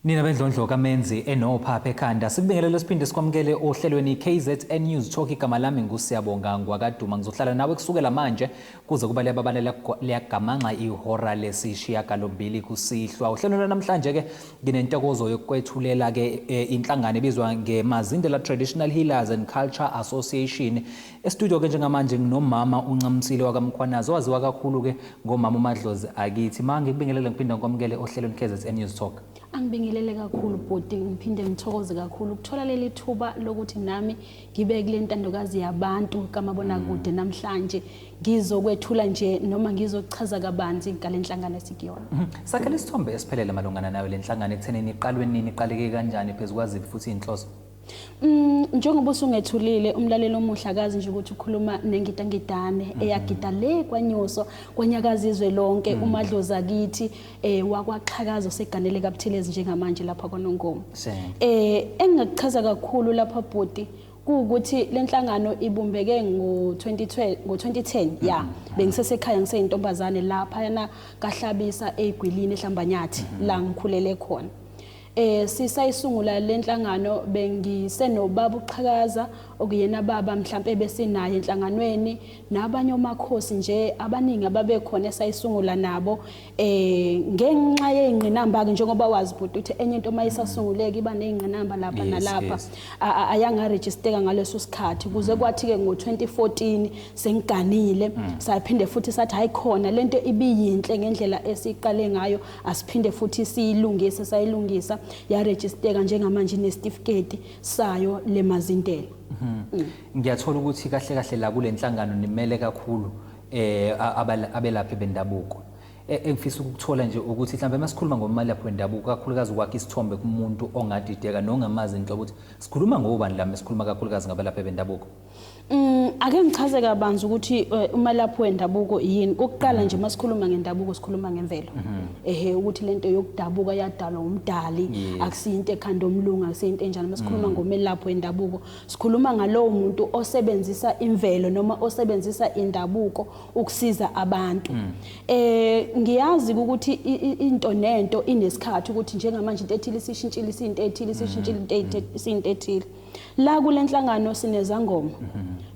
Nina bendlondlo kamenzi enophapha ekhanda sikubingelele siphinde sikwamukele ohlelweni KZN News Talk igama lami ngusiyabonga ngwakaduma ngizohlala nawe kusukela manje kuze kuba liyababalela liyagamangxa ihora lesishiya galombili kusihlwa uhlelo namhlanje ke Nginentokozo yokukwethulela ke e, inhlangano ebizwa ngeMazindela Traditional Healers and Culture Association. Estudio ke njengamanje nginomama uNcamsile wakaMkhwanazi owaziwa kakhulu ke ngomama uMadlozi akithi. Ma ngikubingelele ngiphinda ngikwamukele ohlelweni KZN News Talk. Angibingelele kakhulu bhuti ngiphinde ngithokoze kakhulu ukuthola leli thuba lokuthi nami ngibe kule ntandokazi yabantu kamabonakude mm. namhlanje ngizokwethula nje noma ngizochaza kabanzi ngale nhlangano esikuyona mm-hmm. sakhele isithombe esiphelele malungana nayo le nhlangano ekuthenini iqalwe nini iqaleke kanjani phezu kwaziphi futhi iy'nhloso Mm njengoba usungethulile umlaleli omuhle akazi nje ukuthi ukhuluma nengidangidane mm-hmm. eyagida le kwanyuso kwanyakaza izwe lonke mm. umadloza kithi eh wakwaxhakaza oseganele kaButhelezi njengamanje lapha kwaNongoma eh engingakuchaza kakhulu lapha bhuti kuwukuthi lenhlangano ibumbeke ngo-2012 ngo-2010 mm-hmm. ya bengisesekhaya ngiseyintombazane lapha yana kahlabisa egwilini eHlambanyathi mm-hmm. la ngikhulele khona Eh sisayisungula lenhlangano bengisenobaba uqhakaza okuyena baba mhlambe besinaye enhlanganweni nabanye omakhosi nje abaningi ababekhona esayisungula nabo eh ngenxa yeingqinamba ke njengoba wazi bhuti uthi enye into mayisasunguleka iba neingqinamba lapha yes, nalapha yes. ayanga registerka ngaleso sikhathi kuze mm. kwathi ke ngo2014 sengiganile mm. saphinde futhi sathi hayikhona lento ibiyinhle ngendlela esiqale ngayo asiphinde futhi siyilungise sayilungisa yarejisteka njengamanje inesitifiketi sayo lemazintela mhm. mm. ngiyathola ukuthi kahle kahle la kule nhlangano nimele kakhulu eh abelaphi bendabuko e, engifisa ukuthola nje ukuthi mhlawumbe uma sikhuluma ngomalaphi wendabuko kakhulukazi ukwakha isithombe kumuntu ongadideka nongamazi into ukuthi sikhuluma ngobani la mesikhuluma kakhulukazi ngabalaphi bendabuko Mm, ake ngichaze kabanzi ukuthi eh, umalaphi wendabuko yini ukuqala nje masikhuluma ngendabuko sikhuluma ngemvelo mhm. ehe ukuthi lento yokudabuka yadalwa umdali akusiyinto ekhanda omlungu akusiyinto enjalo masikhuluma mm. ngomelaphi wendabuko sikhuluma ngalowo muntu osebenzisa imvelo noma osebenzisa indabuko ukusiza abantu mm. eh ngiyazi ukuthi into nento inesikhathi ukuthi njengamanje into ethile sishintshile isinto ethile sishintshile into ethile La kule nhlangano sinezangoma,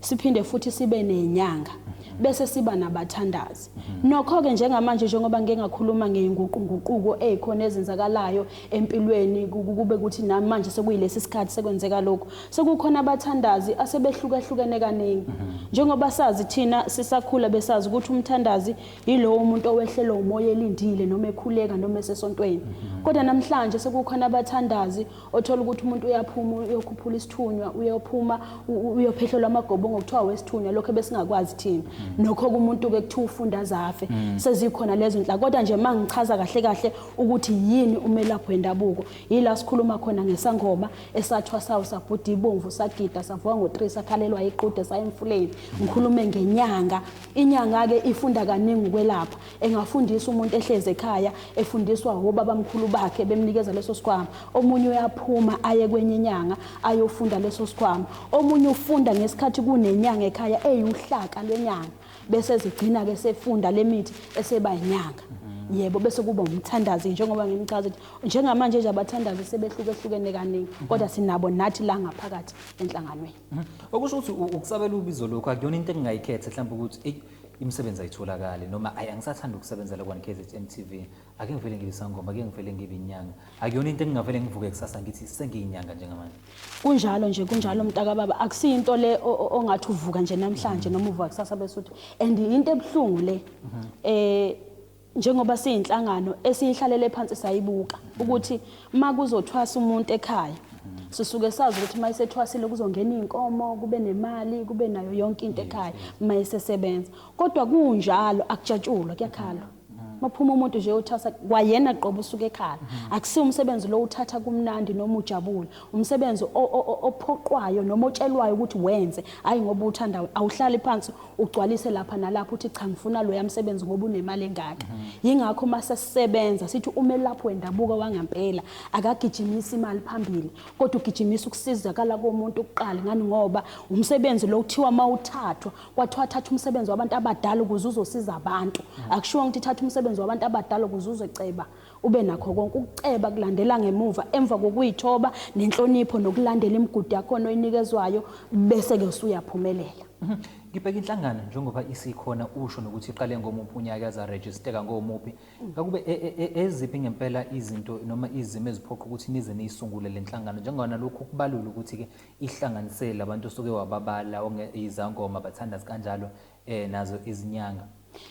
siphinde futhi sibe nenyanga, bese siba nabathandazi. Nokho-ke njengamanje njengoba ngike ngakhuluma ngey'nguqunguquko ey'khona ezenzakalayo empilweni ku- ku- kube ukuthi namanje sekuyilesi sikhathi sekwenzeka lokhu. Sekukhona abathandazi asebehlukahlukene kaningi. Njengoba sazi thina sisakhula besazi ukuthi umthandazi yilowo muntu owehlelwa umoya elindile noma ekhuleka noma esesontweni. Kodwa namhlanje sekukhona abathandazi othola ukuthi umuntu uyaphuma uyokhuphula isithunywa uyophuma uyophehlelwa amagobongo kuthiwa wesithunywa lokho ebesingakwazi thina mm. nokho kumuntu-ke kuthiwa ufunda azafe mm. sezikhona lezo nhlaka kodwa nje uma ngichaza kahle kahle ukuthi yini umelaphi wendabuko yila sikhuluma khona ngesangoma esathwa sawo sabhuda ibomvu sagida savuka ngo-three sakhalelwa iqude saya emfuleni ngikhulume ngenyanga inyanga-ke ifunda kaningi ukwelapha engafundisa umuntu ehlezi ekhaya efundiswa wobabamkhulu bakhe bemnikeza leso sikhwama omunye uyaphuma aye kwenye inyanga ayofunda leso sikhwama omunye ufunda ngesikhathi kunenyanga ekhaya eyuhlaka lwenyanga bese zigcina ke sefunda lemithi eseba inyanga yebo bese kuba umthandazi njengoba ngimchaza ukuthi njengamanje nje abathandazi sebehluke hlukene kaningi kodwa sinabo nathi la ngaphakathi enhlanganweni mhm. okusho ukuthi ukusabela ubizo lokho akuyona into engingayikhetha mhlawumbe ukuthi imisebenzi ayitholakali noma ayi angisathanda ukusebenzela kwani KZN TV ake ngivele ngibe sangoma ake ngivele ngibe inyanga akuyona into engingavele ngivuke kusasa ngithi sengiyinyanga njengamanje kunjalo nje kunjalo mntaka baba akusiyo into le o- o- ongathi uvuka nje namhlanje noma uvuka kusasa bese uthi and into ebuhlungu le eh njengoba siyinhlangano esiyihlalele phansi sayibuka ukuthi uma kuzothwasa umuntu ekhaya sisuke sazi ukuthi uma isethwasile kuzongena iy'nkomo kube nemali kube nayo yonke into ekhaya uma isesebenza kodwa kunjalo akujatshulwa kuyakhalwa maphuma umuntu nje uthasa kwayena qobo usuke ekhala akusi umsebenzi lo uthatha kumnandi noma ujabule umsebenzi ophoqwayo noma otshelwayo ukuthi wenze hayi ngoba uthanda awuhlali phansi ugcwalise lapha nalapha uthi cha ngifuna loya msebenzi ngoba unemali engaka mhm. yingakho uma sesisebenza sithi umelaphi wendabuko wangampela akagijimisi imali phambili kodwa ugijimisa ukusizakala komuntu kuqala ngani ngoba umsebenzi lo kuthiwa uma uthathwa kwathiwa thatha umsebenzi wabantu abadala ukuze uzosiza abantu mhm. akushiwo ukuthi thatha umsebenzi wabantu abadala ukuze uzoceba Ube nakho konke ukuceba kulandela ngemuva emva kokuyithoba nenhlonipho nokulandela imigudu yakhona oyinikezwayo bese-ke usuyaphumelela. Mhm. Ngibheka inhlangano njengoba isikhona usho nokuthi iqale ngomuphi unyaka yazarejisteka ngomuphi. Ngakube e, e, e, eziphi ngempela izinto noma izimo eziphoqa ukuthi nize niyisungule le nhlangano njengona lokhu kubalula ukuthi-ke ihlanganisele labantu osuke wababala izangoma bathandazi kanjalo eh nazo izinyanga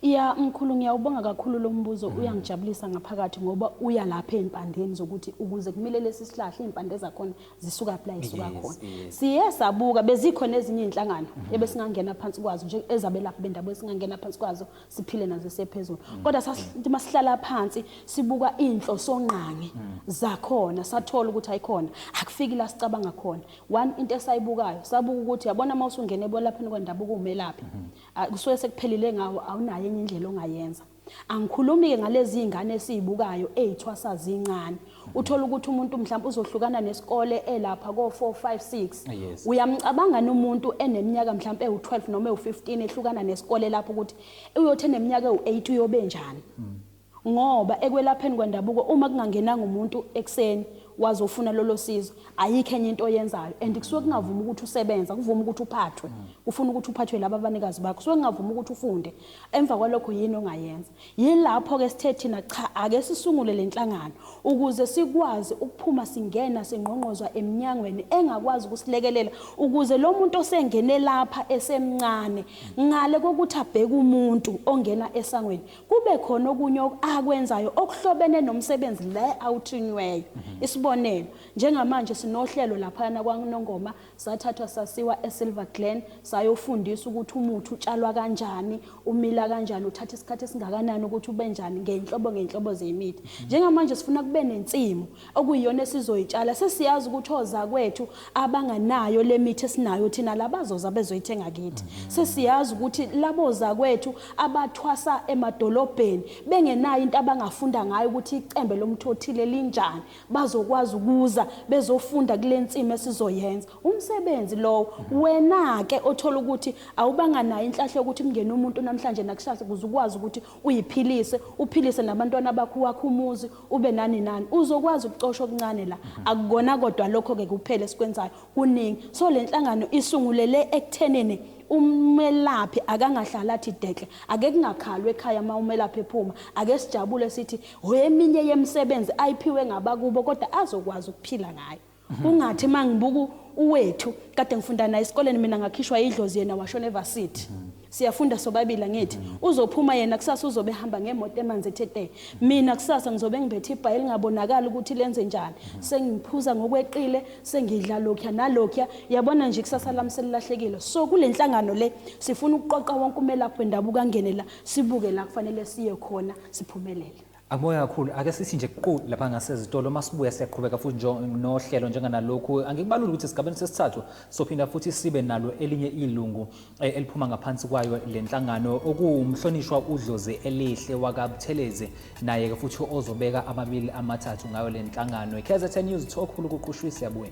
Ya mkhulu ngiyawubonga kakhulu lo mbuzo mm. uyangijabulisa ngaphakathi ngoba uya lapha ezimpandeni zokuthi ukuze kumile lesi sihlahla izimpande zakhona zisuka phi la isuka khona. Siye sabuka bezikhona ezinye izinhlangano mm-hmm. ebesingangena phansi kwazo nje ezabelaphi bendaba esingangena phansi kwazo siphile nazo sephezulu. Mm. Kodwa sasithi masihlala phansi sibuka inhloso ngqangi mm. zakhona sathola ukuthi ayikhona akufiki la sicabanga khona. One into esayibukayo sabuka ukuthi yabona uma usungena ekwelapheni kwendabuko umelaphi mhm. ah, kusuke sekuphelile ngawo awunayo enye indlela ongayenza angikhulumi-ke ngalezi iy'ngane esiyibukayo ey'thwasa zincane mhm. uthole ukuthi umuntu mhlawumbe uzohlukana nesikole elapha ko-four five six ah, uyamcabangani umuntu eneminyaka mhlawumbe ewu-twelve noma ewu-fifteen ehlukana nesikole lapho ukuthi uyothi eneminyaka ewu-eight uyobe njani mm. Ngoba ekwelapheni kwendabuko uma kungangenanga umuntu ekuseni wazofuna lolo sizo ayikho enye into oyenzayo and kusuke kungavumi ukuthi usebenza kuvuma ukuthi uphathwe kufuna ukuthi uphathwe laba abanikazi bakho kusuke kungavumi ukuthi ufunde emva kwalokho yini ongayenza yilapho ke sithe thina cha ake sisungule lenhlangano ukuze sikwazi ukuphuma singena singqongqozwa eminyangweni engakwazi ukusilekelela ukuze lo muntu osengene lapha esemncane ngale kokuthi abheke umuntu ongena esangweni kube khona okunye akwenzayo okuhlobene nomsebenzi le awuthinyweyo mhm. isibonelo njengamanje sinohlelo laphana kwaNongoma sathathwa sasiwa eSilver Glen sayofundisa ukuthi umuthi utshalwa kanjani umila kanjani uthatha isikhathi esingakanani ukuthi ube njani ngenhlobo ngenhlobo zemithi mhm. njengamanje sifuna kube nensimu okuyiyona esizoyitshala sesiyazi ukuthi ozakwethu abanganayo le mithi esinayo thina labazoza bezoyithenga kithi mhm. sesiyazi ukuthi labo zakwethu abathwasa emadolobheni bengenayo into abangafunda ngayo ukuthi icembe lomthothile linjani bazokwazi ukuza bezofunda kule nsimi esizoyenza umsebenzi lowo mhm. wena-ke othola ukuthi awubanga nayo inhlahla yokuthi mngene umuntu namhlanje nakusasa kuze ukwazi ukuthi uyiphilise uphilise nabantwana bakho wakho umuzi ube nani nani uzokwazi ukucosha okuncane la mhm. akukona kodwa lokho ke kuphele sikwenzayo kuningi so lenhlangano isungulele ekuthenini umelaphi akangahlala athi dekle ake kungakhalwe ekhaya uma umelaphi ephuma ake sijabule sithi hoyeminye yemisebenzi ayiphiwe ngabakubo kodwa azokwazi ukuphila ngayo Kungathi mangibuku uwethu kade ngifunda naye esikoleni mina ngakhishwa idlozi yena washona evarsity. Siyafunda sobabili angithi uzophuma yena kusasa uzobe hamba ngemoto emanzi ethe te. Mina kusasa ngizobe ngibethe ibhayi elingabonakala ukuthi lenze njani. Sengiphuza ngokweqile, sengidla lokya nalokya. Yabona nje ikusasa lami selilahlekile. So kulenhlangano le sifuna ukuqoqa wonke umelaphi wendabuko angene la sibuke la kufanele siye khona siphumelele. Akubonge kakhulu. Ake sithi nje qu lapha ngasezitolo uma sibuya siyaqhubeka futhi njo- nohlelo njenganalokhu. Angikubaluli ukuthi esigabeni sesithathu sophinda futhi sibe nalo elinye ilungu eh, eliphuma ngaphansi kwayo le nhlangano okuwumhlonishwa uDlozi Elihle wakaButhelezi naye-ke futhi ozobeka amabili amathathu ngayo le nhlangano. I-KZN News Thokhulu kuqushwe siyabuya.